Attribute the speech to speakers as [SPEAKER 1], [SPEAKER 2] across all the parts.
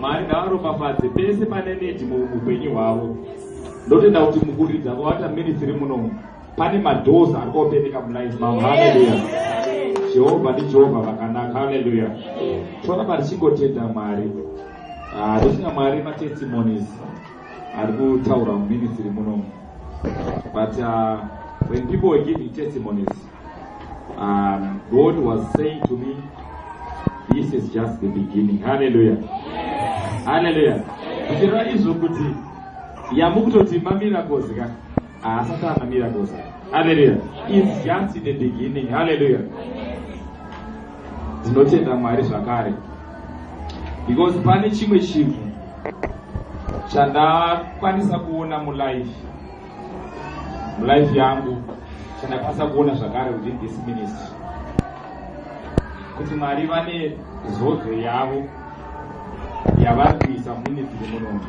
[SPEAKER 1] mwari ngavaropafadze pese pane nedi muupenyu hwavo ndotenda kuti mukuridza kwavata ministry muno pane madoors ari kuopeneka mulife mavo haleluya jehovha ndijehovha vakanaka haleluya toramba tichingotenda mwari tochina ah, mwari matestimonies ari kutaura muministry muno but uh, when people were giving testimonies Um, God was saying to me, this is just the beginning. Hallelujah. Yes. Hallelujah. Kuchireva yes. izvo kuti yamukutoti mamiracles ka haasati ana miracles. Hallelujah. It's just the beginning. Hallelujah. Tinotenda Mwari zvakare. Because pane chimwe chinhu chandakwanisa kuona mulife mulife yangu chandakwanisa kuona zvakare within this ministry kuti mwari vane zodzo yavo yavari kuisa muministry munomu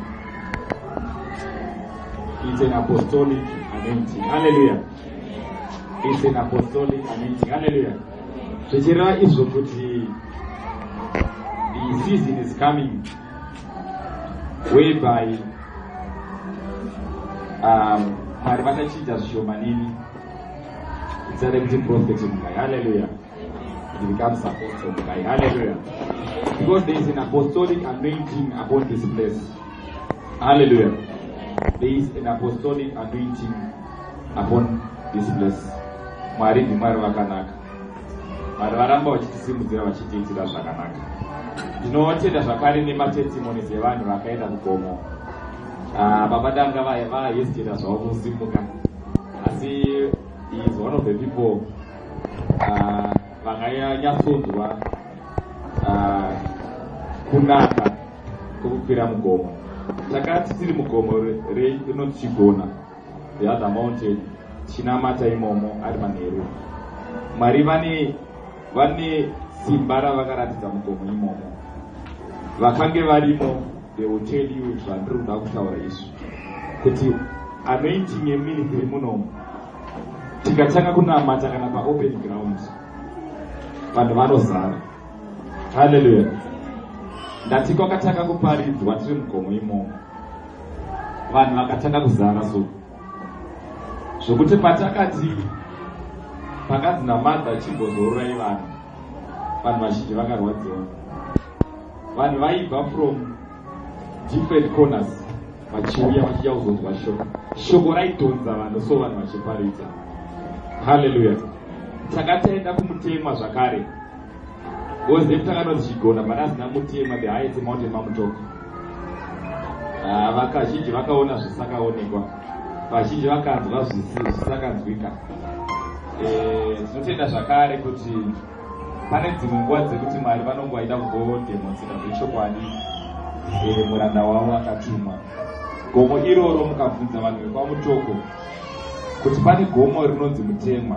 [SPEAKER 1] it's an apostolic anointing halleluya it's an apostolic anointing halleluya zvichireva izvo kuti the season is coming whereby um, mwari vachachinja zvishoma nini itsare kuti profet mugai halleluya becomes apostle mugai halleluya because there is an apostolic anointing upon this place halleluya there is an apostolic anointing upon this place mwari ndimwari vakanaka Mwari varamba vachitisimudzira vachitiitira zvakanaka. Ndinotenda zvakare nematestimonies evanhu vakaenda kugomo. Uh, baba danga vaya vayesitira zvavo kusimuka asi is one of the people uh, vanganyatsonzwa uh, kunaka kwekukwira mugomo takati tiri mugomo rei inoti chigona the other mountain tichinamata imomo ari manheru mwari vane vane simba ravakaratidza mugomo imomo vakange varimo they will tell you zvandiri kuda kutaura izvi kuti anointing yeministry munomu tikatanga kunamata kana paopen ground vanhu vanozara halleluya ndati kwakatanga kuparidzwa tiri mugomo imomo vanhu vakatanga kuzara so zvokuti patakati pakanzi namadha chimbozororai vanhu vanhu vazhinji vakarwadziwa vanhu vaibva from different corners vachiuya vachiya kuzonzwa shoko shoko raidhonza vanhu so vanhu vachiparidza halleluya takataenda kumutemwa zvakare Because nekutanga anozichigona but asina mutema behind the mountain mamutoka ah, vakazhinji vakaona zvisakaonekwa vazhinji vakanzwa zvisakanzwika eh, tinotenda zvakare kuti pane dzimwe nguva dzekuti mwari vanonge vaida kugodemonzira zvechokwadi eh, muranda wavo akatumwa gomo iroro mukabvunza vanhu vekwamutoko kuti pane gomo rinonzi mutemwa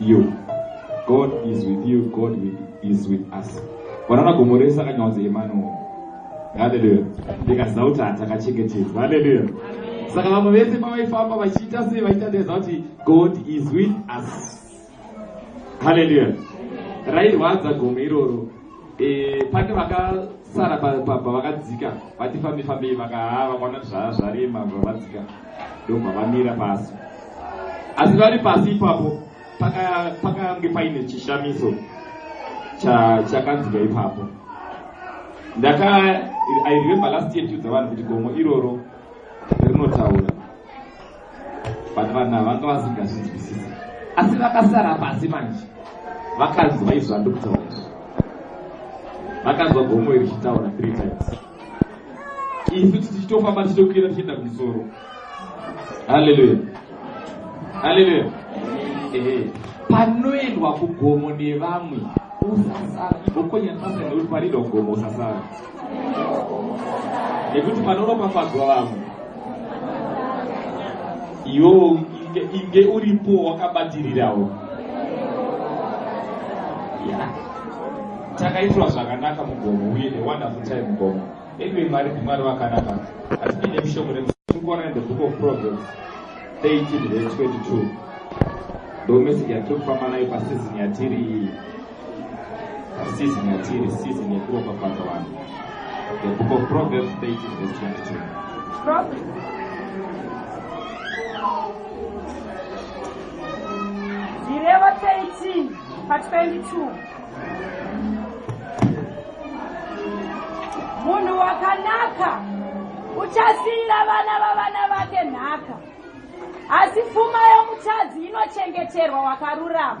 [SPEAKER 1] you god is with you god is with us vanaona gomo rese akanyaudza emanuel haleluya ndikaziva kuti hatakachengetedzwa haleluya saka vamwe vese pavaifamba vachiita sei vaita ndeza kuti god is with us haleluya rairwadza gomo iroro Eh, pane vakasara pavakadzika vati fambi fambei vakahaa vakaona kuti zvaa zvarema zvavadzika ndobva vamira pasi asi vari pasi ipapo pakange paine chishamiso chakanzika ipapo ndaka i remember last year tiudza vanhu kuti gomo iroro rinotaura but vanhu ava vanga vasingazvinzwisisi asi vakasara pasi manje vakanzwa izvo andikutaura izvo vakanzwa gomo iri chitaura three times isu tichitofamba tichitokwira tichienda kumusoro haleluya haleluya ehe panoendwa kugomo nevamwe usasara igokonyaasaaekuti panoendwa kugomo usasara nekuti panoropafadzwa vamwe iwo inge uripo wakabatirirawo takaitirwa zvakanaka mugomo uye newonderful time mugomo anyway mwari ndimwari vakanaka asi ndine mushongo nekuona the book of proverbs 18 22 ndomesiki yatiri kufamba nayo pasizini yatiri iyi Season yatiri season yekuropafadza vanhu. The book of Proverbs 18 verse 22.
[SPEAKER 2] Zvirevo 18 pa 22. Munhu wakanaka uchasiyira vana vavana vake nhaka asi pfuma yomutadzi inochengeterwa wakarurama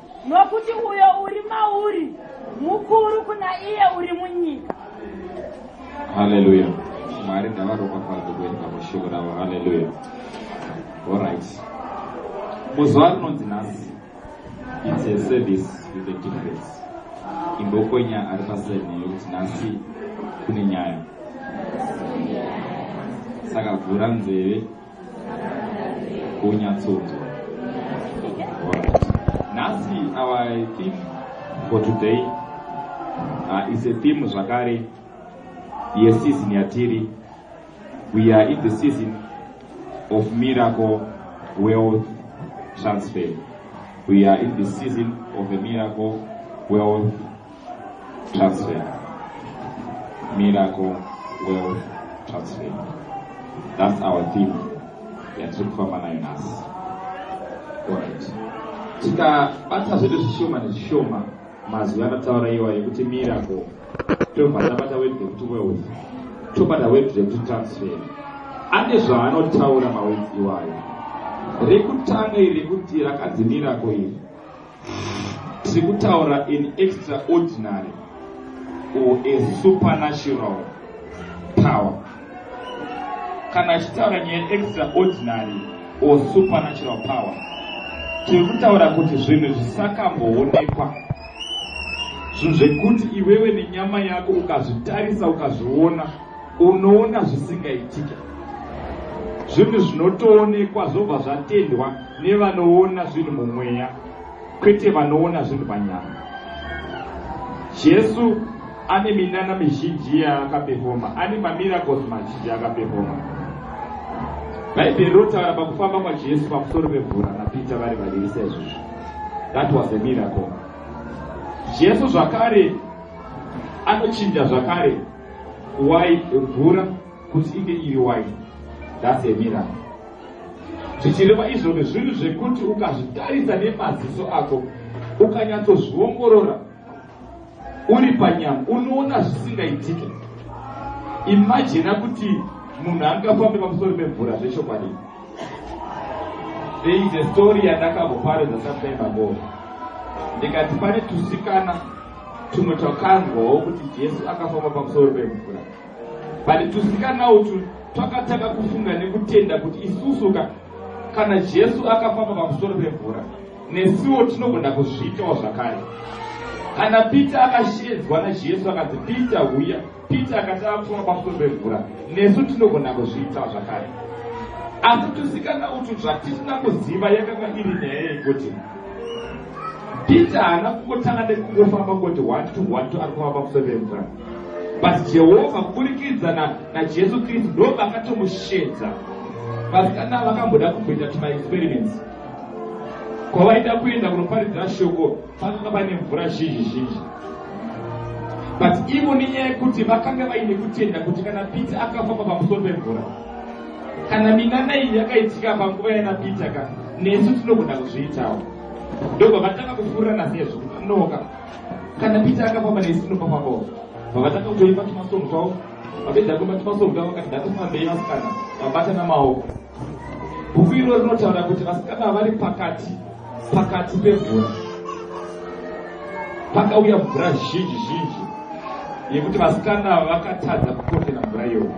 [SPEAKER 2] Nokuti uyo uri mauri mukuru kuna iye uri munyika.
[SPEAKER 1] Haleluya. Mwari ngavaropafadze kuenda mushoko ravo. Haleluya. Alright. Muzuva rinonzi nhasi it's a service with a difference. Imbokonya ari paseni yokuti nhasi kune nyaya. Saka vhura nzeve. kunyatsonzwa nhasi our theme for today uh, is a theme zvakare yeseason yatiri we are in the season of miracle wealth transfer we are in the season of the miracle wealth Transfer. Miracle Wealth Transfer. That's our theme yatiri kufamba nayo nhasi. Alright. Tikabata zvedu zvishoma nezvishoma mazwi anataura iwa yekuti miracle tobva tabata wedzi yekuti wealth tobata wedzi yekuti transfer ane zvaanotaura mawedzi iwayo rekutanga iri rekuti rakadzi miracle iri tiri kutaura an extraordinary or a supernatural power kana achitaura nyaya extraordinary or supernatural power tiri kutaura kuti zvinhu zvisakamboonekwa zvinhu zvekuti iwewe nenyama yako ukazvitarisa ukazviona unoona zvisingaitike zvinhu zvinotoonekwa zvobva zvatendwa nevanoona zvinhu mumweya kwete vanoona zvinhu panyama jesu ane minana mizhinji yaakapefoma ane mamiracles mazhinji yaakapefoma bhaibheri rotaura pakufamba kwajesu pamusoro pemvura napita vari vaviri saizvozvo that was a miracle jesu zvakare anochinja zvakare wine mvura kuti inge iri wine thats a miracle zvichireva izvozvo zvinhu zvekuti ukazvitarisa nemaziso ako ukanyatsozviongorora uri panyama unoona zvisingaitike imajina kuti munhu angafambe pamusoro pemvura zvechokwadi there is a story yandakaboparedza sometime ago ndikati pane tusikana tumwe twakanzwawo kuti jesu akafamba pamusoro pemvura but tusikana utu twakatanga kufunga nekutenda kuti isusu ka kana jesu akafamba pamusoro pemvura nesuwo tinogona kuzviitawo zvakare kana peter akashedzwa najesu akanzi peter huya Peter akati ava kufunga pamusoro pemvura, nesu tinogona kuzviita zvakare. Asi tusikana utwu zvatisina kuziva yakanga iri nyaya yekuti Peter haana kungotanga nekungofamba kuti one to one to ari kufamba pamusoro pemvura, but Jehovha kuburikidza na, naJesu Kristu ndo vakatomushedza. Vasikana vakamboda kumboita tumaexperiments kwavaida kuenda kunoparidzira shoko Pakanga paine mvura zhinji zhinji, but ivo nenyaya yekuti vakanga vaine kutenda kuti kana Peter akafamba pamusoro pemvura, kana minana iyi yakaitika panguva yana Peter ka nesu tinogona kuzviitawo. Ndobva vatanga kufurirana sezvo noka kana Peter akafamba nesu tinofambawo. Vavatanga kutoimba tumasongo twavo, vapedza kuimba tumasongo twavo vakati datofambei vasikana, vabatana maoko. Bhuku iro rinotaura kuti vasikana ava vari pakati pakati pemvura pakauya mvura zhinji zhinji yekuti vasikana ava vakatadza kukotera mvura iyoyo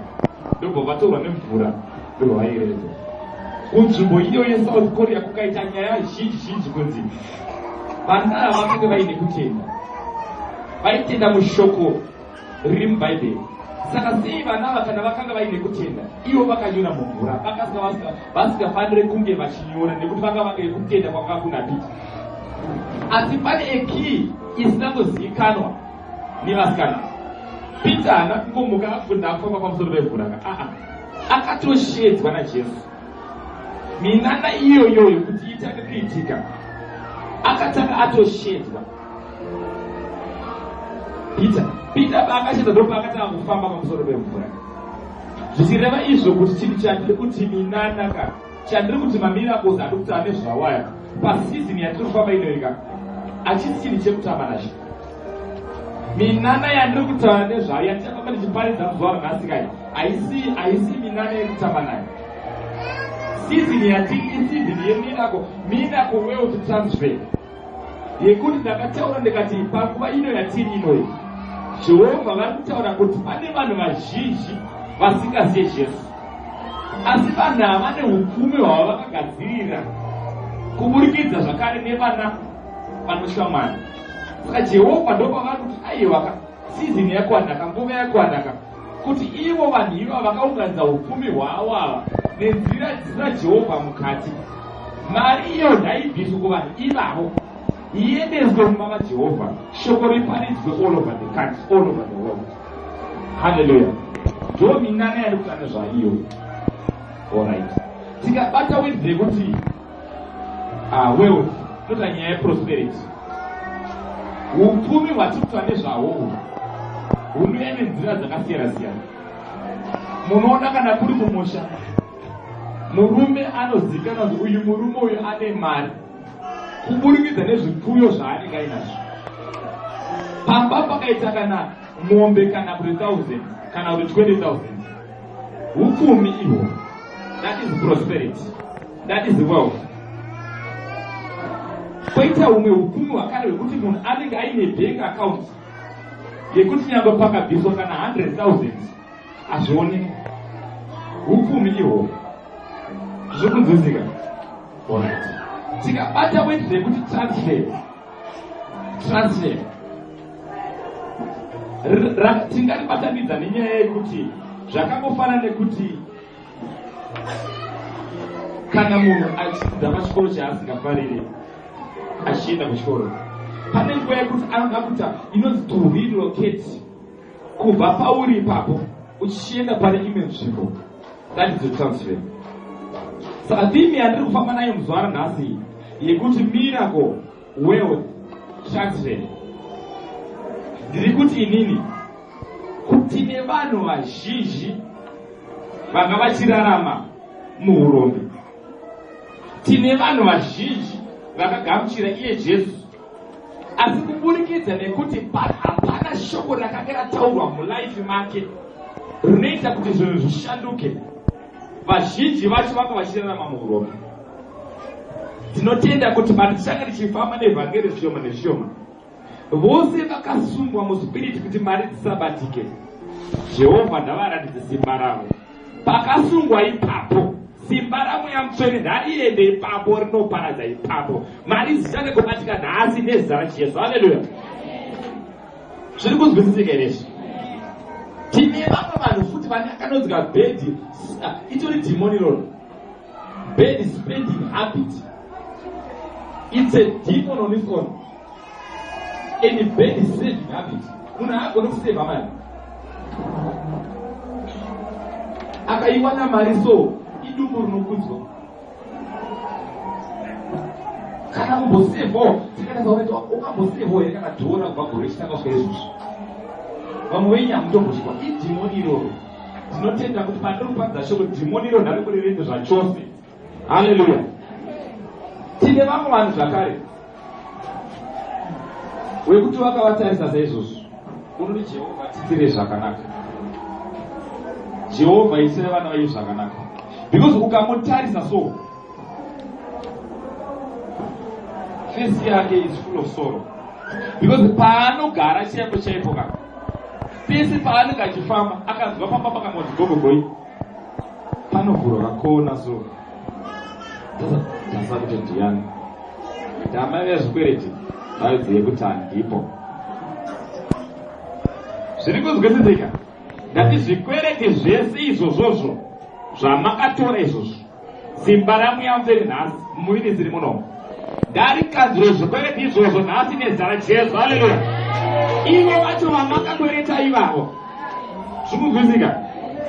[SPEAKER 1] ndobva vatorwa nemvura ndobva vaireza kunzvimbo iyo yesouth korea kukaita nyaya zhinji zhinji kunzi vana ava vakange vaine kutenda vaitenda mushoko riri muBhaibheri. Saka sei vana ava kana vakanga vaine kutenda ivo vakanyora mumvura vakasika vasingafanire kunge vachinyora nekuti vanga vakae kutenda kwanga kuna piti asi pane ekii isinangozivikanwa nevasikana pita haana kungomuka akufunda akufamba pamusoro pemvura ka aa akatoshedzwa najesu minana iyoyo yekuti itange kuitika akatanga atoshedzwa peter peter paakachita ndopaakatanga kufamba pamusoro pemvura zvichireva izvo kuti chinhu chandiri kuti minanaka chandiri kuti mamiracles andi kuti ane zvawaya pasizini yatiri kufamba inoika achisi chinhu chekutamba nacho minana yandiri kutaura nezvayo yandichafamba ndichiparidza muzuva runhasi kai haisi haisi minana yekutamba nayo sizini yatiri isizini yemirako mirako wealth transfer yekuti ndakataura ndikati panguva ino yatiri inoyi jehovha vari kutaura kuti pane vanhu vazhinji vasingaziye jesu asi vanhu ava ne ukumi hwava vakagadzirira kuburikidza zvakare nevana vanoshamana saka jehovha ndopavari kuti aiwaka sizini yakwanaka nguva yakwanaka kuti ivo vanhu iva vakaunganidza upfumi hwavo ava nenzira dzisina jehovha mukati mari iyo ngaibviswe kuvanhu ivavo iendeswe mumba majehovha shoko riparidzwe all over the country all over the world halleluya ndo minana yari kutana zvaiyo orit tikabata wedze kuti Ah, wealth ndoda nyaya yeprosperity upfumi hwatikuta nezvahwo hunouya nenzira dzakasiyana siyana munoona kana kuri kumusha murume anozikana kuti uyu murume uyu ane mari kuburikidza nezvipfuyo zvaanenge ainazvo pamba pakaita kana mombe kana kuti thousand kana kuti 20000 upfumi ihwo that is prosperity that is wealth koita humwe upfumi hwakare hwekuti munhu anenge aine bank account yekuti nyangwe pakabviswa kana 100000 hazvione upfumi ihwo zvikunzwisika tikabata weti rekuti transfer translate tingaribatanidza nenyaya yekuti zvakangofanana nekuti kana munhu achidzidza pachikoro chaasingafarire achienda kuchikoro pane nguva yekuti anoda kuta inonzi to relocate kubva pauri ipapo uchienda pane imwe nzvimbo ngatidzo transfer saka theme yandiri kufamba nayo muzuva ranhasi yekuti miracle world transfer ndiri kuti inini kuti nevanhu vazhinji vanga vachirarama muurombi tine vanhu vazhinji vakagamuchira iye jesu asi kuburikidza nekuti hapana shoko rakange rataurwa mulaifi make rinoita kuti zvinhu zvishanduke vazhinji vacho vanga vachirarama muurombe tinotenda kuti patichanga tichifamba nevhangeri zvishoma nezvishoma vose vakasungwa muspiriti kuti mari dzisabatike jehovha ndavaratidze simba ravo Pakasungwa ipapo simba ramweya mutsvene rariende ipapo rinoparadza ipapo mari dzichane kubatika nhasi nezita rachiyesu haleluya zviri kunzwisisika here izvi tine vamwe vanhu futi vane akanonzika bedi ah, itori demoniron bedi spending habit it's a demon on its own and a bad saving habit munhu haagone kuseva mari akaiwana mari so idumbu rinokudzwa kana kumbosevawo tikanasaureta ukambosevawo here kana dhora kubva gore chitanga kusvika izvozvo vamwe venyu hamutombochikwa idhimoni iroro tinotenda kuti pandiri kupadza shoko dhimoni iroro ndari kurirende zvachose haleluya tine vamwe vanhu zvakare wekuti vakavatarisa saizvozvo unoti jehovha titire zvakanaka jehovha isire vana vayo zvakanaka because ukamutarisa so fesi yake is full of sorrow because paanogara chaipo chaipo ka pese paanenge achifamba akanzwa pamba pakangonzi gogogoi panovhurwa kakona so tasa kuti ndiyani ndamai vezvikwereti vaizive kuti handipo zviri kunzwisisika ndati zvikwereti zvese izvozvozvo zvamakatora izvozvo Simba ramweya mutsvene nhasi mumuviri dziri munomu ndarikadziro zvikweleti izvozvo nhasi nezita rajesu haleluya ivo vacho vamakakwereta ivavo zvikunzwisika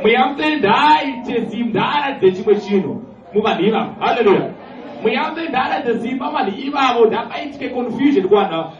[SPEAKER 1] mweya mutsvene ndaaite simba ndaaratidze chimwe chinhu muvanhu ivavo haleluya mweya mutsvene ndaaratidze simba vanhu ivavo ndakaitike confusion kuvanhu avo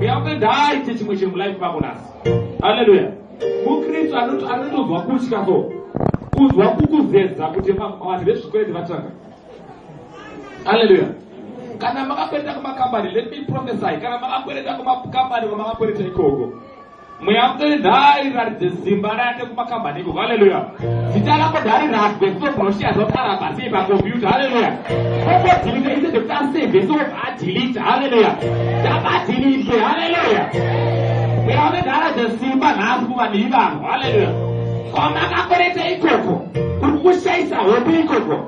[SPEAKER 1] uyakuenda aite chimwe chinhu mulife mako nhasi haleluya mukristu anotonzwa kutya so kuzwa kukuzeza kuti vanhu vezvikwete vatanga haleluya kana makakwereta kumakambani let me prophesy kana makakwereta kumakambani kwamakakwereta ikoko mweya mutore nhai raridze zimba rake kumakambani ikoko haleluya zita rako dhari ragwe kutobroshiya zoti arabva sei pakompyuta haleluya okodhilita ise zvekuti aseve so adhilita haleluya tabadhilite haleluya mweya unedhara dzesimba nhasi kuva nei vanhu haleluya kwamakakwereta ikoko kuri kushayisa hope ikoko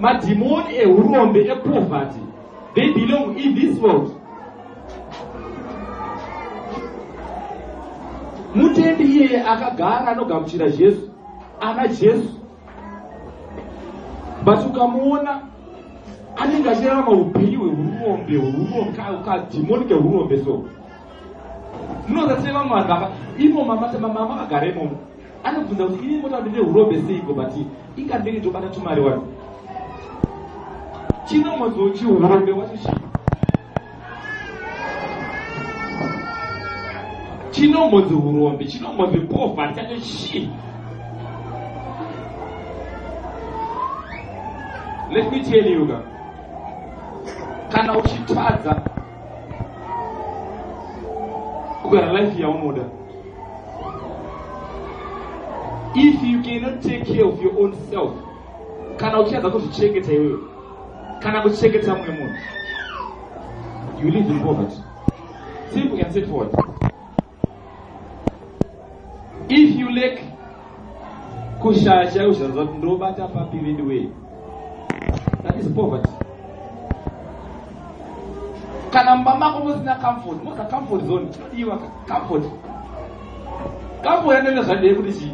[SPEAKER 1] madhimoni ehurombe epoverty they belong in this world mutendi iyeye akagara anogamuchira jesu ana jesu but ukamuona anenge achirarama upenyu hwehurombe hurombe kadhimoni kehurombe so munozatireva mwana vaka imo mama mama vagara imomo anobvunza kuti ini motaura ndine urombe seiko but inga ndenge tobata tumari wani chinomodzo chiurombe wacho chii chinomodzo urombe chinomodzo poverty chacho chii let me tell you ka kana uchitadza kugara life yaunoda if you cannot take care of your own self kana uchada kuzvichengeta iwewe kana kuchengeta mumwe munhu you live in poverty simple and straightforward if you lack kushaya chaiwo zvaza kuti ndobata papi veduwee that is poverty kana mumba mako musina comfort mosa comfort zone chinodiwa comfort comfort anenge zvadei kuti chii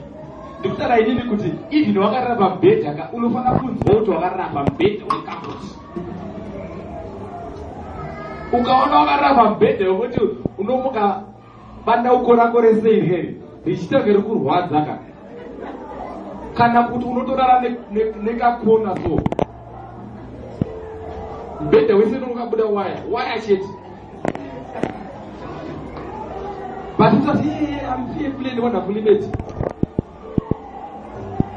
[SPEAKER 1] ndikutara inini kuti even wakarara pamubhedha ka unofanira kunzwa kuti wakarara pamubhedha wecomfort ukaona wakarara pamubhedha wekuti unomuka bandauko rako rese iri here richitanga ri kurwadza ka kana kuti unotorara nekakona so mubhedha wese nonokabuda waya waya chete but utati iye amfie kule ndiwona kulimeti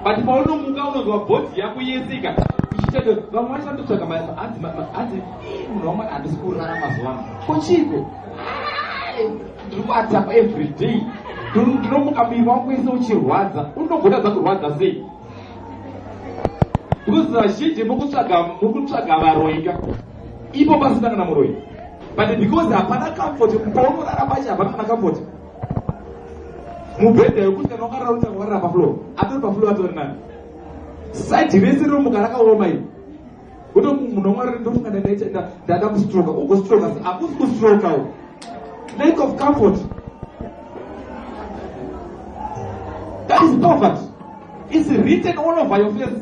[SPEAKER 1] but paunomuka unonzwa bhodhi yako yese ikati ichitendo vamwe vacho vanototsvaga mabasa hanzi hanzi munhu wamwari handisi kurara mazuva ano kochiiko ndiri kuatapa every day ndinomuka miri wangu wese uchirwadza unogona za kurwadza sei because vazhinji mukutsvaga mukutsvaga varoika ipo pasina kana muroyi but because hapana comfort paunorara pacho hapana kana comfort mubhedha yokuti kana wakarara utanga warara pafloor atori pafloor atori nani saidi rese rinomuka rakaoma iri utomunomwarira ndofunga ndaita ndada kustroka ugostroka akusi kustroka u lack of comfort that is poverty is written all over your face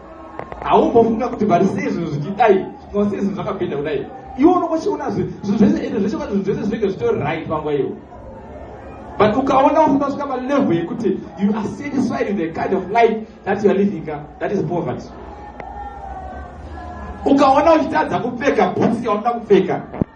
[SPEAKER 1] haumbofunga kuti but sei zvinhu zvichidai no sei zvinhu zvakapinda kudai iwe unokochiona zvinhu zvese ende zvese kwati zvinhu zvese zvinenge zvitori right panguva iwe but ukaona usina svika palevel yekuti you are satisfied with the kind of life that you are living ka that is poverty ukaona uchitadza kupfeka bhutsi yaunoda kupfeka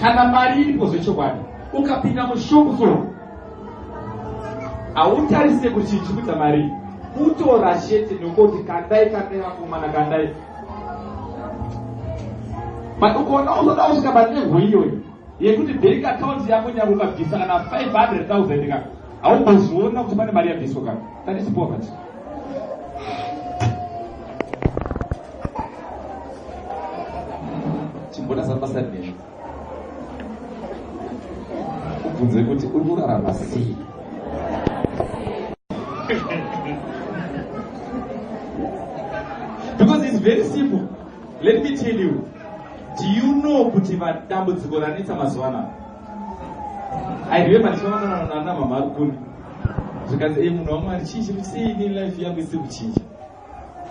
[SPEAKER 1] kana mari iripo zvechokwadi ukapinda mushopu so hautarise kuti chikuita mari kutora chete nokoti kandai kandai vakomana kandai but ukaona uzoda kusvika panengo iyoyo yekuti bank account yako nyanga ukabvisa kana 500000 ka haumboziona kuti pane mari yabviswa ka that is poverty chimbona samasa nemi ubvunze kuti uri kurarama sei because it's very simple let me tell you do you know kuti vadambudziko ranetsa mazuva anaa i remember ndichivaonana nana mama ari kuni zvikanzi e munhu wamwari chii chiri sei nelife yangu isiri kuchinja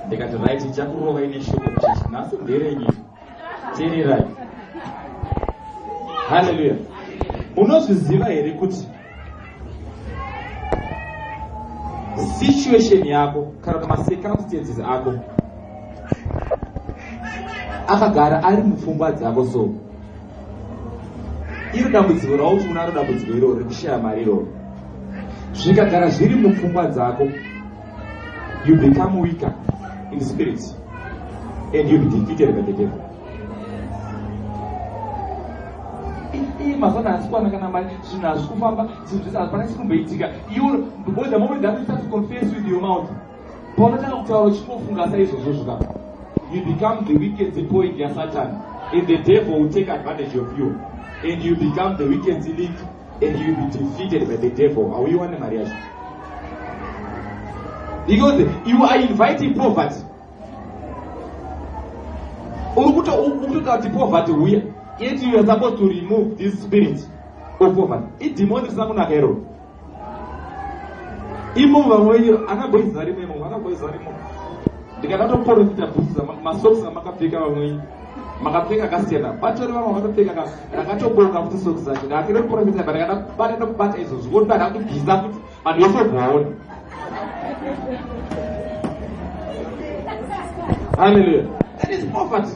[SPEAKER 1] ndikati right ichakurova ine shoko kuchechi nhasi nderenyu tererai halleluya unozviziva here kuti situation yako kana kuti macircumstances ako akagara ari mupfungwa dzako so iri dambudziko rauti unaro dambudziko iroro rekushaya mari iroro zvikagara zviri mupfungwa dzako you become weaker in spirit and you'll be defeated by the devil mazana hasikwana kana mari zvinhu hazvi kufamba zvinhu zvese hapana chikumboitika iwo because the moment that you start to confess with your mouth paunotanga kutaura uchingofunga saizvozvo zvoka you become the wicked point yasatan and the devil will take advantage of you and you become the wicked link and you be defeated by the devil hauiwane mari yacho because you are inviting poverty uri kutotaura kuti poverty huya yet you are supposed to remove this spirit of poverty idhimoni risina kunaka iroro imo vamwe wenyu akaboiziva rimwe imo akaboiziva rimwe ndikadatoporofita bhusi masoksi amakapfeka vamwe wenyu makapfeka ka stand up vatori vamwe vakatopfeka ka rakatobonga kuti soki zacho ndakakira kuporofita but kana vanenda kubata izvozvo voti vada kutibhiza kuti vanhu vese bwaona haleluya that is poverty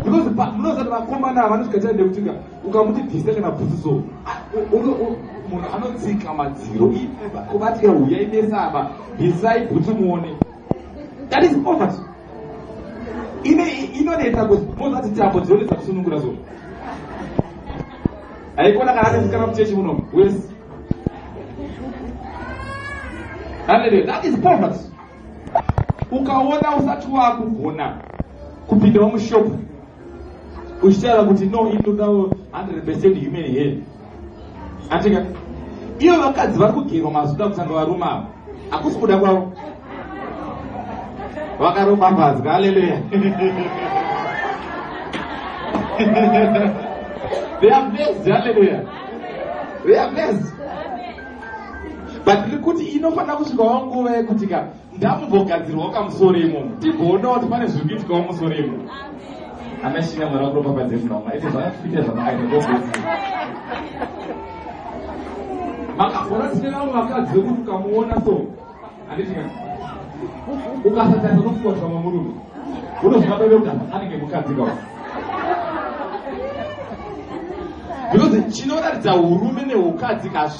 [SPEAKER 1] because munozati vakomana ava vanozvikaita ndekutika ukamuti bhisa kana bhusi so munhu anotsika madziro kuvatya huya imesaba bhisai bhuti muone that is poverty ine inonetsa kuti mozati tambo dzinonetsa kusunungura zvo haikona kana anesikana muchechi muno wes haleluya that is poverty ukaona usati wakugona kupindawo mushopu uchitaura kuti no inodawo 100 percent human hair atika ivo vakadzi vari kugerwa mazuda kutanga varume avo hakusi kuda kwavo vakaropafadzwa aleluya they are blessed aleluya they are blessed but tiri kuti inofanira kusvikawo nguva yekuti ka ndamumbogadzirwawo kamusoro imomo tigoonawo kuti pane zviri kuitikawo musoro imomo anashinga mwari wakuropafadze munoma ite zvakakuita zvamakaita kogoi makafora tine vamwe vakadzi vekuti ukamuona so anditika ukasatarisa nokufuwa zvamwe murume unoziva bebe kuti anenge mukadzi kawa because chinoratidza urume neukadzi kazvi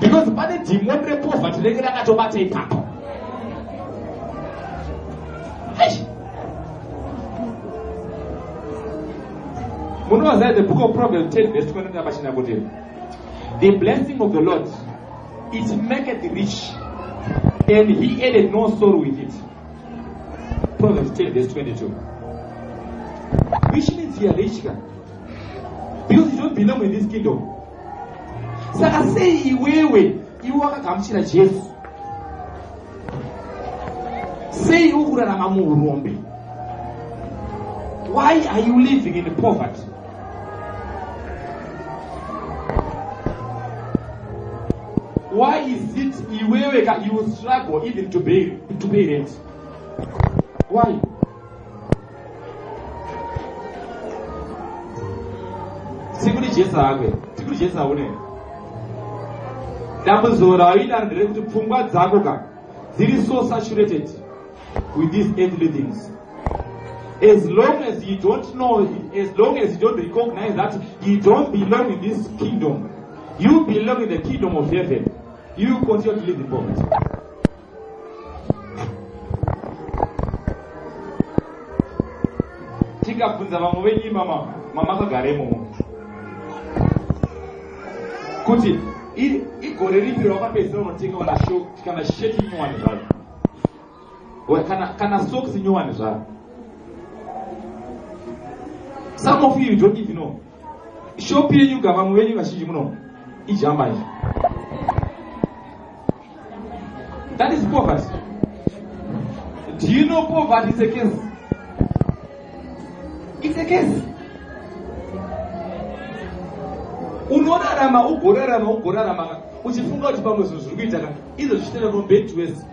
[SPEAKER 1] because pane dhimoni repovhati renge rakatobata ipapo munovaziva the book of proverb 10 vese tinoenda pachina kuti the blessing of the lord it maketh rich and he added no sorrow with it proverb 10 vese 22 which means you are rich because you don't belong in this kingdom saka sei iwewe iwe wakagamuchira jesu sei iwe kurarama muurombe why are you living in poverty why is it iwewe ka you struggle even to pay, to pay rent why tikuri jesa hakwe tikuri jesa une dambudziko rawaida nderekuti pfungwa dzako ka dziri so saturated with these earthly things as long as you don't know as long as you don't recognize that you don't belong in this kingdom you belong in the kingdom of heaven you continue to live in poverty tikabvunza vamwe venyu mama mamakagaremo kuti igore ripi rawakapedzisira unotenga kana sho kana sheti nyowani zvaro kana kana socks nyowani zvaro some of you you don't even know Shop yenyu gava muvenyu vazhinji muno ijamba izvi. That is poverty. Do you know poverty is a case? It's a case. Unorarama ugorarama ugorarama uchifunga kuti pamwe zvinhu zviri kuita ka izvo zvichitenda from bed to worse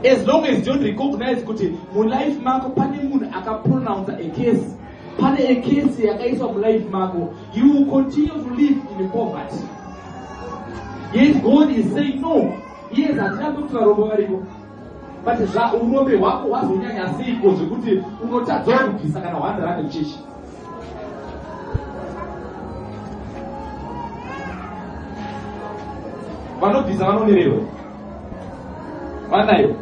[SPEAKER 1] As long as you don't recognize kuti mulife mako pane munhu akapronounce a case, pane a case yakaiswa mulife mako, you will continue to live in poverty. Yes, God is saying no. Yes, hatina kuti varombo variko. But zva urombe hwako hwazonyanya seiko zvekuti unotadza kubvisa kana 100 kuchechi. Vanobvisa vanonererwa. Manayo.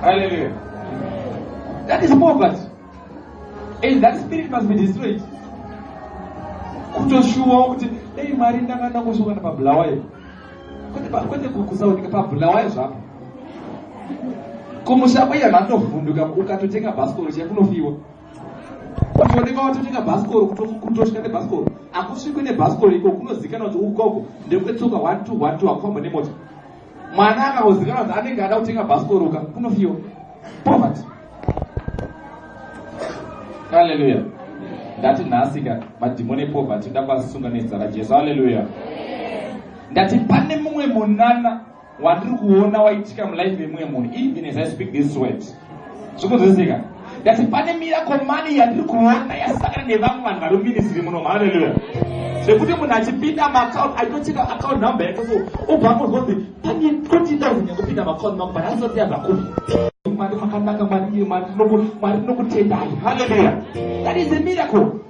[SPEAKER 1] Hallelujah. That is poverty. And that spirit must be destroyed. kutoshuwa kuti dai mwari ndanga ndangosvokana pabulawayo kwete kusaoneka pabulawayo zvapo kumusha kwaiya vantovhunduka ukatotenga bhasikoro chekunofiwa kuoneka watotenga bhasikoro kutosvika nebhasikoro akusvikwe nebhasikoro iko kunozikana kuti ukoko ndekwetsoka one two one two akufamba nemota mwana akangozikana kuti anenge ada kutenga bhasikoro ka kunofiwa poverty haleluya ndati nhasi ka madhimoni epoverty ndakuasunga nezita rajesu haleluya ndati pane mumwe munana wandiri kuona waitika mulife yemumwe munhu even as i speak this word zvikunzwisika ndati pane miracle money yandiri kuona yasakana nevamwe vanhu vari muminisiri muno haleluya zvekuti munhu achipinda maacount aitocheka account number yake so obva angozonzi pane twenty thousand yakupinda maacount mangu but asati yabva kupi mwari makanaka mwari mwari ndinokutendai haleluya that is a miracle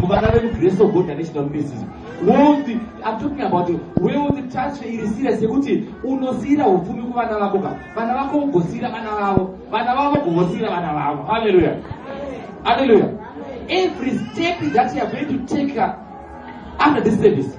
[SPEAKER 1] kuvana vemugrace of god ane chidaro message wealth i'm talking about wealth transfer iri serious yekuti unosiyira upfumi kuvana vako ka vana vako vogosiyira vana vavo vana vavo vogosiyira vana vavo halleluya halleluya every step that youare going to take after this service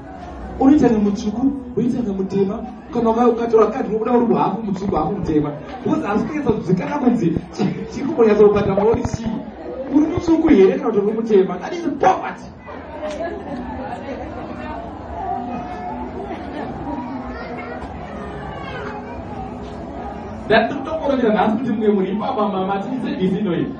[SPEAKER 1] unoita nemutsvuku unoita nemutema kana ukatora kadi unobuda uri hafu mutsvuku hafu mutema because asi kunyatsa kuzikana kunzi chiri kumbonyatsa kubata maori chii uri mutsvuku here kana kuti uri mutema that is poverty ndandiri kutokorera nhasi kuti mumwe muri ipapa mama tiisebisi inoita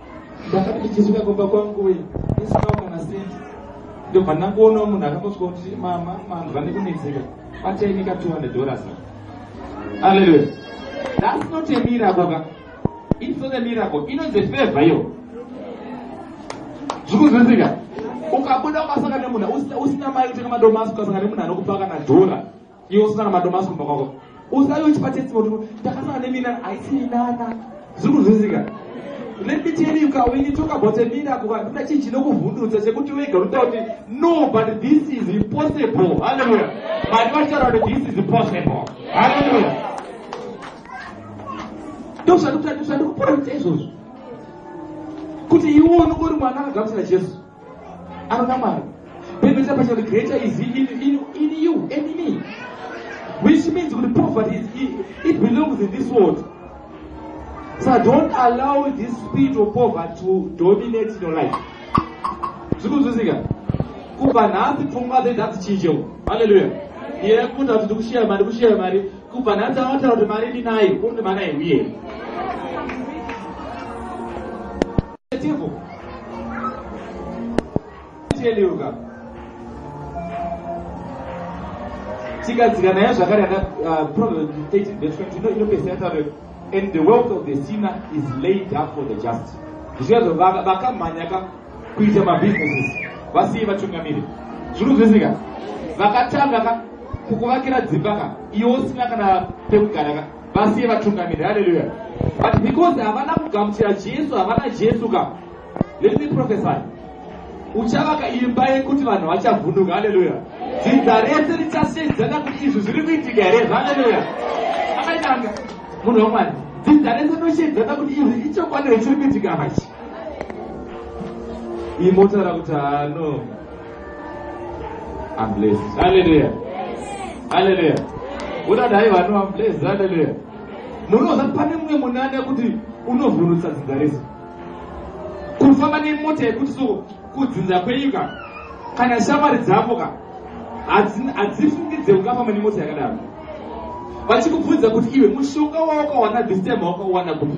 [SPEAKER 1] ndakati ndichisvika kumba kwangu uye ndisinawo kana sendi ndobva ndangoonawo munhu akangosvika kuti mama vanhu vane kunetseka vatainika 200 dollars alleluya thats not a miracle ka its not a miracle inonzi efavha iyo zvikunzwisika ukabuda ukasanga nemunhu usina mari utenga madomasi ukasanga nemunhu anokupa kana dhora Iwe usina kana madomasi kumba kwako. Usayo uchipa testimony kuti ndakasana nemina haisi minana. Zviri kunzwisika. Let me tell you ka when you talk about a miracle kana chinhu chinokuvhundutsa chekuti wega unotaura kuti no but this is impossible. Hallelujah. Mwari vachitaura kuti this is impossible. Hallelujah. Ndozvandikutaura ndozvandikupora kuti izvozvo. Kuti iwe unongori mwana akagamuchira Jesu. anoda mwari bible chapa chati greater is in, in, in you and me which means kuti poverty is, it, it belongs in this world so don't allow this spirit of poverty to dominate in your life zvikunzwisika kubva nhasi pfungwa dzedu hadzichinjewo halleluya iye kuti ati ndikushiya mari kushiya mari kubva nhasi anotaura kuti mari ndinayo unondi mari aiuye Tivo. Tell you ka. Tikadzika nayo zvakare yana uh, Proverbs 13 verse 20 ino inopedzera taure and the wealth of the sinner is laid up for the just. Zvichazvo vakamhanya ka kuita mabusinesses vasiye vatungamiri. Zviri kuzwisika? Vakatanga ka kukuvakira dzimba ka iwo usina kana pekugara ka vasiye vatungamiri haleluya but because havana kugamuchira jesu havana jesu ka let me prophesy uchavaka imba yekuti vanhu vachavhunduka haleluya dzinza rese richasedzana kuti izvi zviri kuitika here haleluya akaitanga munhu wamwari dzinza rese noshedzana kuti izvi ichokwadi rechiri kuitika apa chi imbotaura kuti hano ambles aleluya aleluya udada haiva no ambles aleluya munoza pane mumwe munane kuti unovhurutsa dzinza resu kufamba nemota yekuti so kudzinza kwenyika kana shamwari dzako ka hadzifungidze ungafamba nemota yakadaro vachikubvunza kuti iwe mushonga wawakawana this time wakawana kupi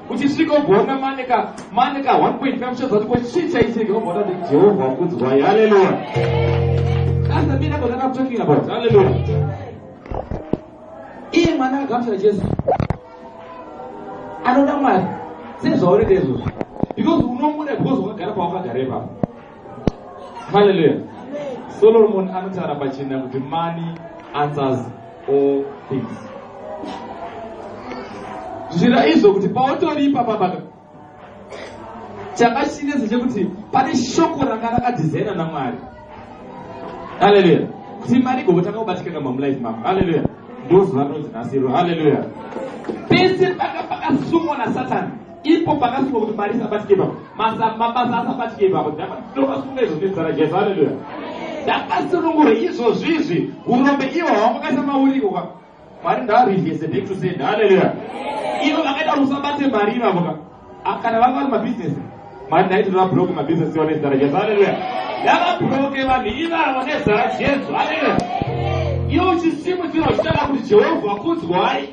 [SPEAKER 1] uchisvikogona mane ka mane ka 1.5 uchaziva kuti kochii chaitika obva utati jehovha wakudzwai haleluya that's the miracle that i'm talking about haleluya iye mwana akagamuchira jesu anoda mwari sezvauri ndezvozvo because unomuda because wakagara pawakagara ipapo haleluya solomoni anotaura pachena kuti money answers all things zvira izvo kuti pautoripa pabaka chakachinetsa chekuti pane shoko ranga rakadhizaina namwari haleluya kuti mari igobotanga kubatikana mamulife mako haleluya ndozuva rinonzi nasiro haleluya pese paka pakasungwa nasatani Ipo pakasungwa kuti mari isabatike ipapo. Masa mabasa asabatike ipapo. Ndakasunga izvo nezara Jesu. Haleluya. Ndakasunungura izvo zvizvi. Urombe iwo hawamakaisa mauriko kwa. Mari ndavarivese back to send. Haleluya. Ivo vakaita kuti usabate mari ivavo ka. Ah, kana vanga vari mabizinesi. Mari ndaiti ndava broke mabizinesi iwo nezara Jesu. Haleluya. Ndava broke vanhu ivavo nezara Jesu. Haleluya. Iwo chisimudziro chitaka kuti Jehovha kudzwai.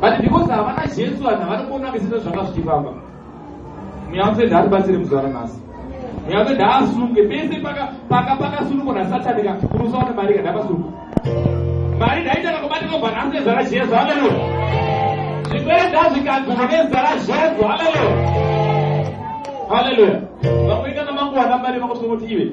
[SPEAKER 1] but because havana jesu vanhu havana kuona mesese zvanga zvichifamba mweya wamsende hatibatsire muzuva ranhasi mweya wamsende haasunge pese pakasunukwa nasatani ka unosaona mari ka ndapasuka mari ndaitanga kubatika kubva nhasi nezara jesu haleluya zvipere ndazvikanzwa nezara jesu haleluya haleluya vamwe kana manguwana mari vakutongoti ive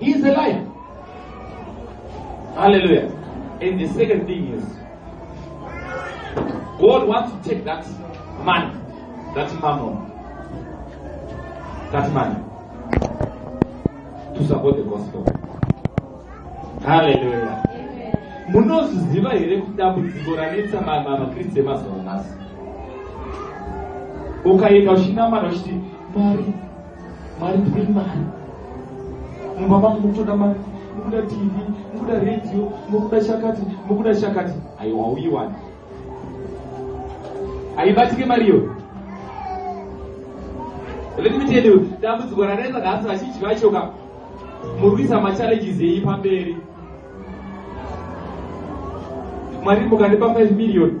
[SPEAKER 1] He is alive. Hallelujah. And the second thing is, God wants to take that money, that mammon, that money to support the gospel. Hallelujah. munozviziva here kuti dambudziko ranetsa makristu emazuva nhasi ukaenda uchinamana uchiti mari Mari ndiri mari. Mumba mangu mukutoda mari, mukuda TV, mukuda radio, mukuda chakati, mukuda chakati. Aiwa uyiwani. Aibatike mari iyoyo. Let me tell you, dambudziko ranetsa nhasi vazhinji vacho ka muri kuisa machallenges eyi pamberi. Mwari mukandipa 5 million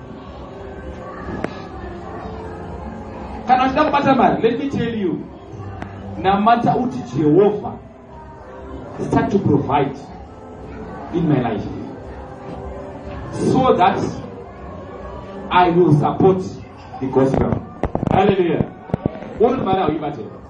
[SPEAKER 1] kana uchida kubata mari let me tell you namata uti jehovha start to provide in my life so that i will support the gospel hallelujah uri mari hauibate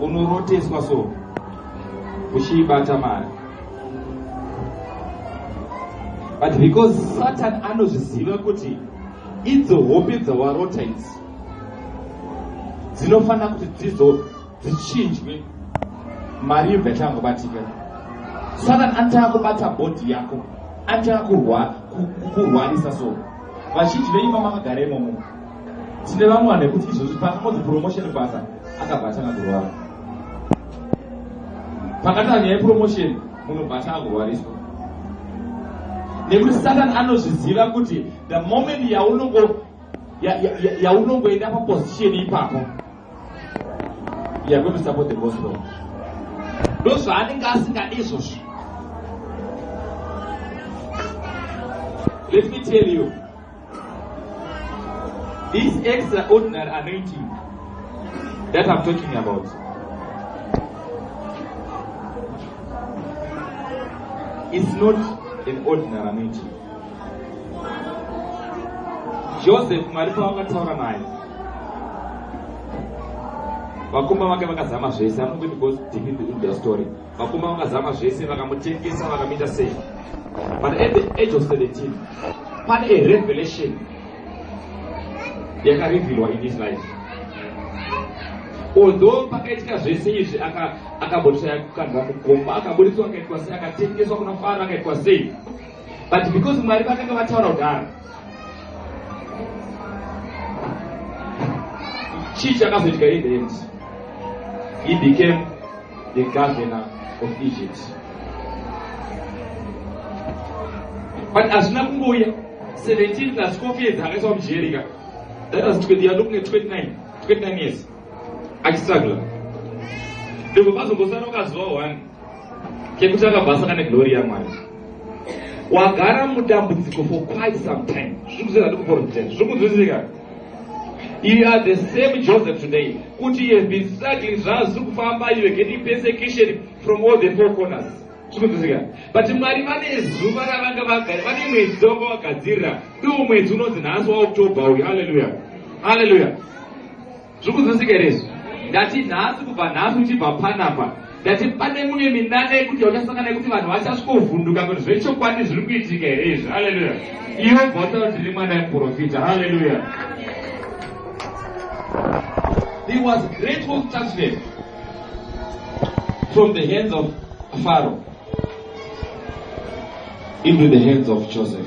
[SPEAKER 1] unoroteswa so uchiibata mari but because satan anozviziva kuti idzo hope dzawarota idzi dzinofanira kuti dzizo dzichinjwe mari yobva ichangobatika satan anotanga kubata bhodhi yako anotanga kurwarisa so vazhinji venyu vamakagara imomo tine vamwe vanhu vekuti izvozvi pakangonzi promotion basa akabva atanga kurwara pakatanga nyaya yepromotion munhu bva atanga kurwariswa nekuti satani anozviziva kuti the moment yaunongo yaunongoenda paposition ipapo yakuti support the gospel ndozvaanenge asingadi izvozvo let me tell you This extraordinary anointing that I'm talking about. It's not an ordinary anointing. Joseph Mwari pavakataura naye vakomba vake vakazama zvese anokuti goes deep in the story vakoma vakazama zvese vakamutengesa vakamuita sei but at the age of 17 pane a revelation yakarevilwa in his life although pakaitika zvese izvi akabotoshaya kukandwa mukomba akaburitswa akaitwa sei akatengeswa kuna fara akaitwa sei but because mwari vakanga vataura kudaro chii chakazoitika in the end he became the governor of egypt but hazvina kungouya 17 plus 4 years akaiswa mujerika that was 20 year looking at 29 29 years achistrugla ndobva vazongosara ukaziva one chekutanga basa kana glory yamwari wagara mudambudziko for quite some time zvikuzvira ndikuporofita zvikunzwisika you are the same joseph today kuti you have been struggling zvazviri kufamba you are getting persecution from all the four corners zvikunzwisika but mwari vane zuva ravanga vagari vane mwedzi dzavanga vagadzirira ndiwo mwedzi unonzi nhasi waoktober uyu halleluya halleluya zviri kunzwisika here izvi ndati nhasi kubva nhasi uchibva panapa ndati pane mune minana yekuti yauchasangana yekuti vanhu vachasvikovhunduka kuti zvechokwadi zviri kuitika here izvi haleluya iwe bva utaura kuti ndiri mwana yeprofita haleluya he was great for touchnet from the hands of pharaoh into the hands of joseph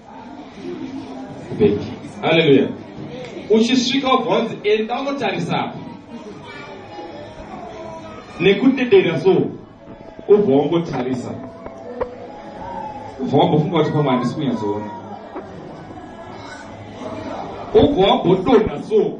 [SPEAKER 1] haleluya uchisvika wobva wanzi enda unotarisa apa nekudedera so ubva wangotarisa ubva wambofunga kuti pamwe handisi kunyatsoona ubva wambodonha so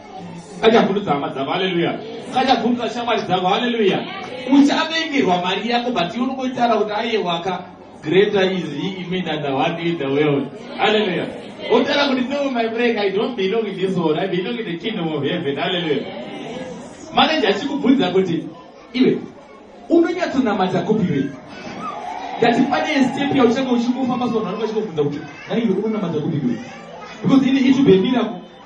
[SPEAKER 1] ngachavhundutsa hama dzako haleluya ngachavhundutsa shamwari dzako haleluya uchavengerwa mari yako but unongoitara kuti ayewaka greater is he in me than the one in the world haleluya otara kuti no my friend i don't belong in this world i belong in the kingdom of heaven haleluya manaje achikubvunza kuti iwe unonyatsonamata kupi iwe ndati pane step yauchanga uchingofamba so vanhu vanenge vachikubvunza kuti naiwe unonamata kupi iwe because ini it will be a miracle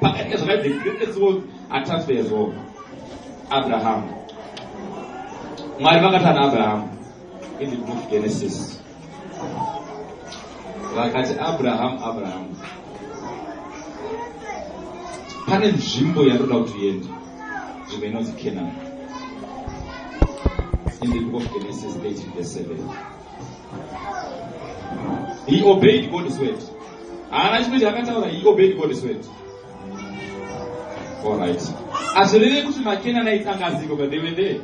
[SPEAKER 1] Pakaita zvakati the greatest wealth are transferred as well. Abraham. Mwari vakata na Abraham in the book Genesis. Vakati Abraham, Abraham. Pane nzvimbo yandoda kuti uende. Nzvimbo inonzi Canaan. In the book of Genesis 18 verse 7. he obeyed god's word haana chimwe chaakataura he obeyed god's word allright hazvireve kuti makenani aitanga aziko but they were there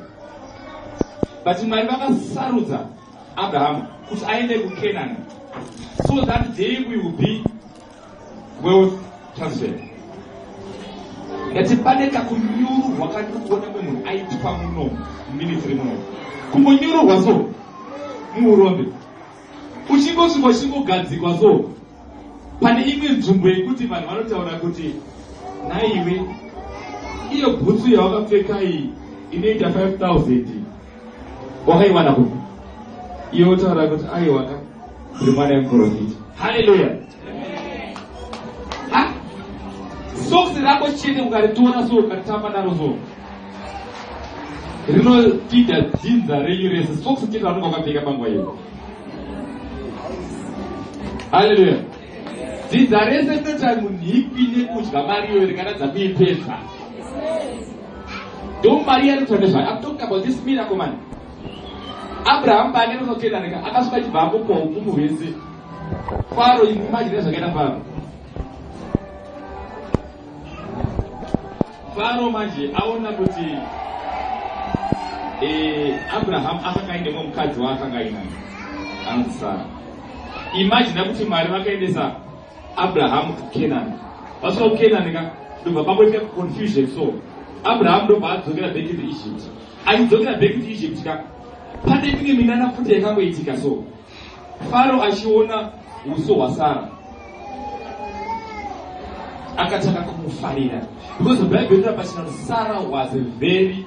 [SPEAKER 1] but mwari vakasarudza abrahamu kuti aende kukenani so that day we will be wealth transfer ndati pane kakunyururwa kandikuona mwe munhu aitwa muno muministry muno kungonyururwa so muurombe uchingosvika uchingogadzikwa so pane imwe nzvimbo yekuti vanhu vanotaura kuti naiwe iyo bhutsu yawakapfeka iyi inoita 5000 wakaiwana kupi iyo otaura kuti aiwaka uri mwana yemuprofita haleluya soksi rako chete ukaritiona so ukaritamba naro so rinotida dzinza renyu rese soksi chete ranonga ukapfeka panguva iyo haleluya dzinza rese rinoita munhu ikwi nekudya mari iyo rikaratidza kuipedza Don't marry any tradition. I'm talking about this miracle man. Abraham paanenge anotenda rega akasvika achibva amupa hukumu hwese. Faro imagine zvakaita Faro. Faro manje aona kuti eh Abraham akanga aine mumwe mukadzi waakanga ainaye. Anzi Sara. Imagine kuti Mwari vakaendesa Abraham Canaan. Vasvika kuCanaan ka ndobva pamboitika confusion so Abraham ndobva adzokera back to Egypt. Achidzokera back to Egypt ka pane imwe minana futi yakangoitika so Faro achiona uso hwaSara akatanga kumufarira because the Bible inotaura pachina Sarah was a very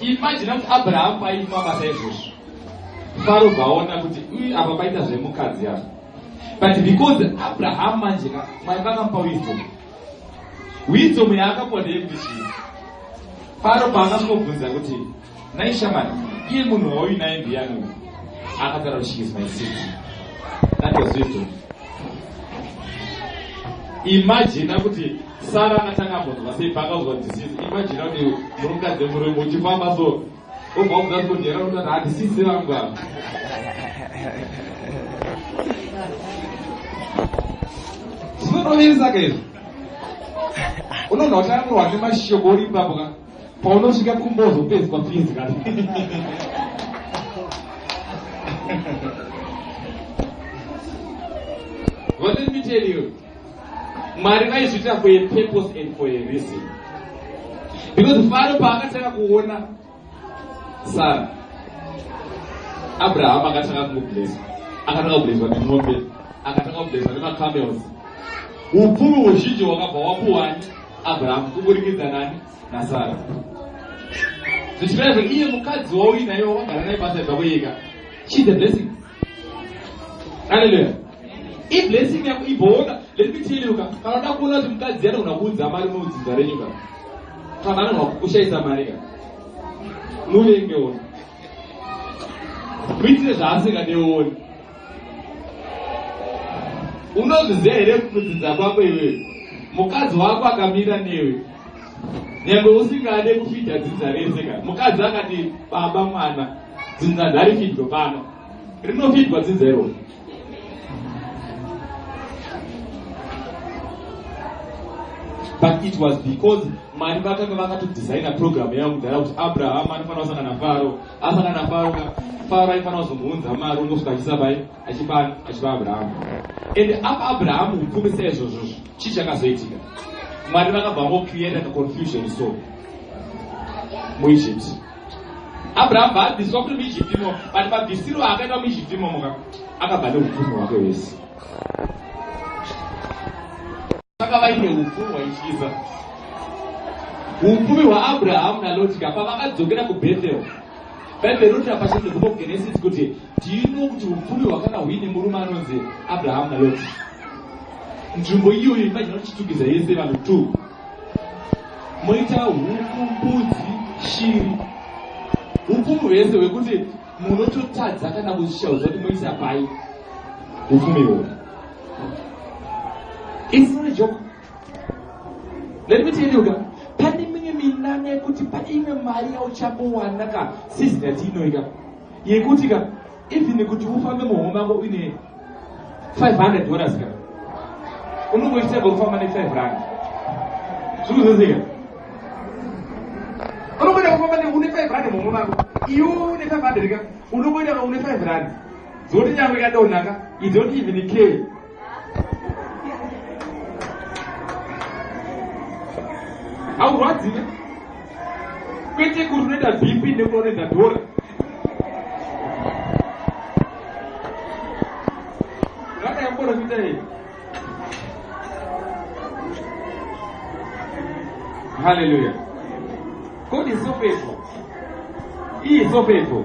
[SPEAKER 1] Imagine kuti Abraham paifa basa izvozvo. Faro vaona kuti uyu apa paita zvemukadzi apa. But because Abraham manje ka mwari vakamupa wisdom. Wisdom yaakapuwa ndeyekuti chii? Faro paakasvobvunza kuti nai shamani iye munhu wauyu naye ndiyani uyu? Akataura kuti she is my sister. That was wisdom. Imagine kuti Sara akatanga ambonzwa sei paakauzwa disizi imajina kuti murukadzi murume uchifamba so obva udzati kuti hera kuti handisizi vangu ava zvinotovirisa ka izvo unonga uchanamurwa nemashoko uri ipapo ka paunosvika kumbozo pedzwa fizi ka What did we tell you? Mwari vaizviita for a purpose and for a reason. Because Faro paakatanga kuona Sara, Abraham akatanga kumublesa, akatanga kubleswa nemombe, akatanga kubleswa nemacamels. Upfumi huzhinji hwakabva wapuwani Abraham kuburikidza nani naSara. Zvichireva iye mukadzi wauinayo wagara naye pasaidza kuika. She's a blessing. aleluya iblessing yako iboona let me tell you ka kana uda kuona kuti mukadzi anogona kuudza mari muudzinza renyu ka kana anogona kukushaisa mari ka muvenge ona muitire zvaasingadeoni unozviziva here mudzidza kwako iweyo mukadzi wako akamira newe nyangwe usingade kufidha dzinza rese ka mukadzi akati baba mwana dzinza ndarifidwa pano rinofidwa dzinza iroro but it was because mari vakanga vakatodesigna program yavo kudhara kuti abraham anofanira kusangana faro asangana faro faro aifanira kuzomuunza mari unosvika achisa pai achipa achipa abrahamu and apa abrahamu upfumi seizvozvozvo chii chakazoitika mwari vakabva vangocreata kaconfusion so muegypt abrahamu vaabviswa kuti muegypt imo but mabvisiro akaita muegypt imomoka akabva neupfumi hwake hwese vaka vaine upfumi hwaityisa upfumi hwaabrahamu nalotika pavakadzokera kubethel bhaibheri roti rapachete kubogenesis kuti Do you know kuti upfumi hwakanga huine murume anonzi Abraham na Lot? Nzvimbo iyoyo imagine uchitukidza yese vanhu two. Moita huku, mbudzi, shiri. Upfumi hwese hwekuti munototadza kana kuzvishauza kuti moisa pai upfumi hwo. It's not a joke. Let me tell you guys pane mimwe minana yekuti pane imwe mari yauchambowana ka sizina tiinoika yekuti ka even kuti ufambe muhomwe mako uine 500 dollars ka unongoitega kufamba ne5 rand zvikuzozeka unongoita kufamba une 5 rand muhomwe mako iwe une 500 ka unongoita une 5 rand dzoti nyangwe kadonaka idzoti even care haurwadzive kwete kuti unoita bp nekuti unoita dhora rakayamboromita iyi haleluya god is so faithful he is so faithful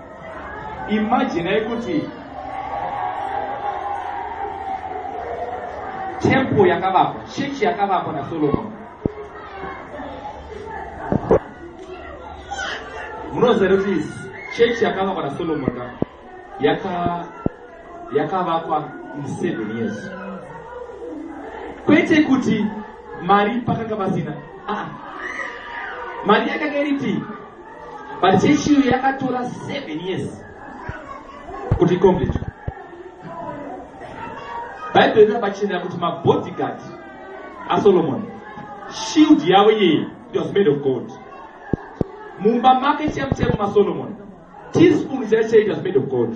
[SPEAKER 1] imaginai kuti temple yakavakwa chechi yakavakwa nasolomoni munoziva here kuti chechi yakavakwa nasolomoni ka yakavakwa yaka in seven years kwete kuti mari pakanga pasina ah. mari yakanga iripi But chechi iyo yakatora seven years kuti icomplete. Bible rina pachena kuti mabodyguard aSolomon shield yavo iyeyi it was made of gold. Mumba make chemu chemu maSolomon teaspoon chaicho it was made of gold.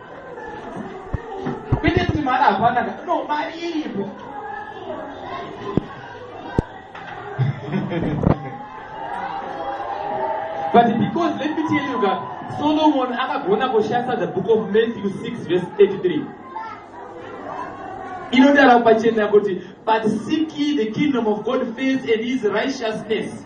[SPEAKER 1] kwete kuti mari hapana ka no mari iripo but because let me tell you ka solomon akagona kushandisa the book of matthew 6 verse 33 inodara pachena kuti but seek ye the kingdom of god first and his righteousness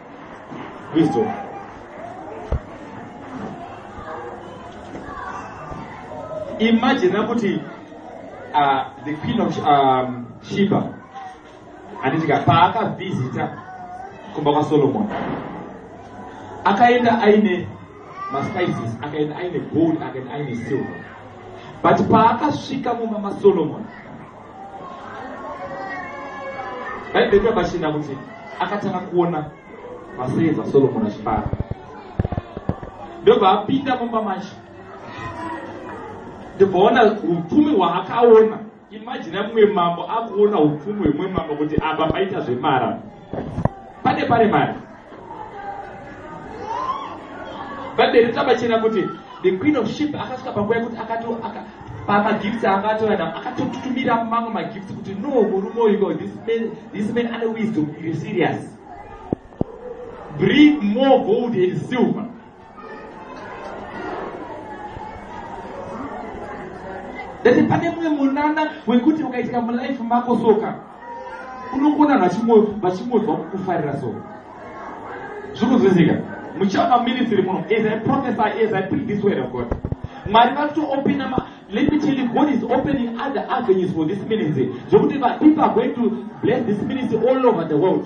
[SPEAKER 1] Kristo. Imagine kuti uh, the queen of um, Sheba anditika paakavhizita kumba kwaSolomon akaenda aine maspices akaenda aine gold akaenda aine silver but paakasvika mumba maSolomon bhaibheri rabashinda kuti akatanga kuona vaseza solomoni achibara ndobva apinda mumba macho ndibvaona upfumi hwaakaona imajina mumwe mambo akuona upfumi hwemumwe mambo kuti apa paita zvemara pane pane mari bhaibheri rikabachena kuti the queen of ship akasvika panguva yekuti pamagifts akatora na akatotutumira mamwe magifts kuti no murume uyuko this man ane wisdom iri serious bring more gold and silver ndati pane mumwe munana wekuti ukaitika mulife mako soka unokona vanhu vachingonzwa kukufarira so zviri kunzwisika muchaona muministry muno as i prophesy as i preach this word of god mwari vari kutoopina let me tell you god is opening other avenues for this ministry zvokuti people are going to bless this ministry all over the world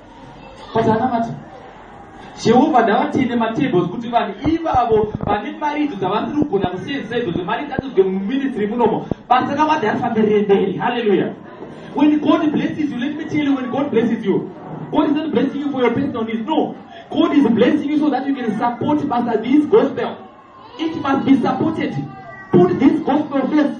[SPEAKER 1] but anamata jehovha ndavatende matables kuti vanhu ivavo vane mari idzo dzavasiri kugona kusenzisa idzo dzemari ngadzizwe muministry munomo basa ravo adi arifambe riemberi halleluya when god blesses you let me tell you when god blesses you god is not blessing you for your personal needs no god is blessing you so that you can support basa this gospel it must be supported put this gospel first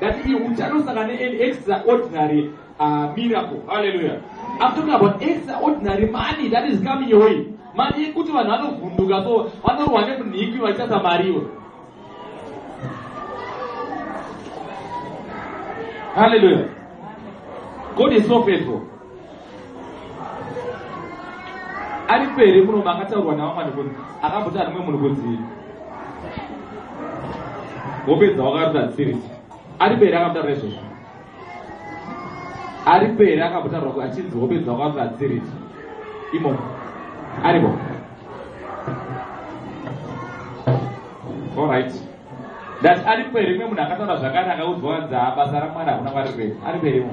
[SPEAKER 1] That is utano saka ne an extraordinary uh, miracle. Hallelujah. I'm talking about extraordinary money that is coming your way. Mari yekuti vanhu vanovhunduka so vanorwa nemunhikwi vachitasa mariwo. Hallelujah. God is so faithful. ari pere muno makataurwa navamwani kuti akamboti arimwe munhu kuti hope dzawakaruta dzisirisi ari pere akamutaura izvozvo ari pere akamutaura kuti achinzi hope dzawakaruta dzisirisi imo aripo allright ndati ari pere imwe munhu akataura zvakare akaudzwa anzi haa basa ramwana hakuna kwari pere ari pere imo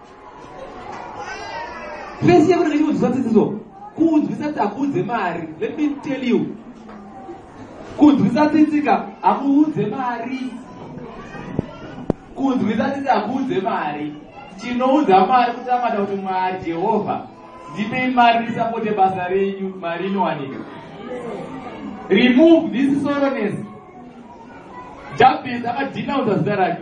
[SPEAKER 1] Fesi yako ndenge chiudzisa dzidziso kuunzwisa kuti hakuudze mari let me tell you kunzwisa tsitsika hakuudze mari kunzwisa tsitsi hakuudze mari tinoudza mari kutamata kuti mwari jehovha ndipei mari ndisapote basa renyu mari inowanika remove this soroness jabes akadhinaudza zita rake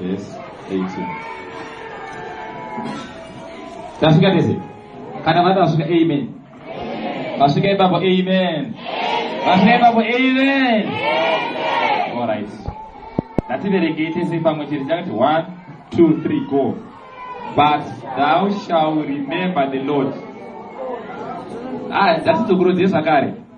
[SPEAKER 1] Verse 18. Tasvika tese. Kana vati vasvika amen. Vasvika ipapo amen. Vasvika ipapo amen. All right. Ngativerekei tese pamwe chete chakati 1 2 3 go. But thou shall remember the Lord. Ah, that's the Guru Zakari.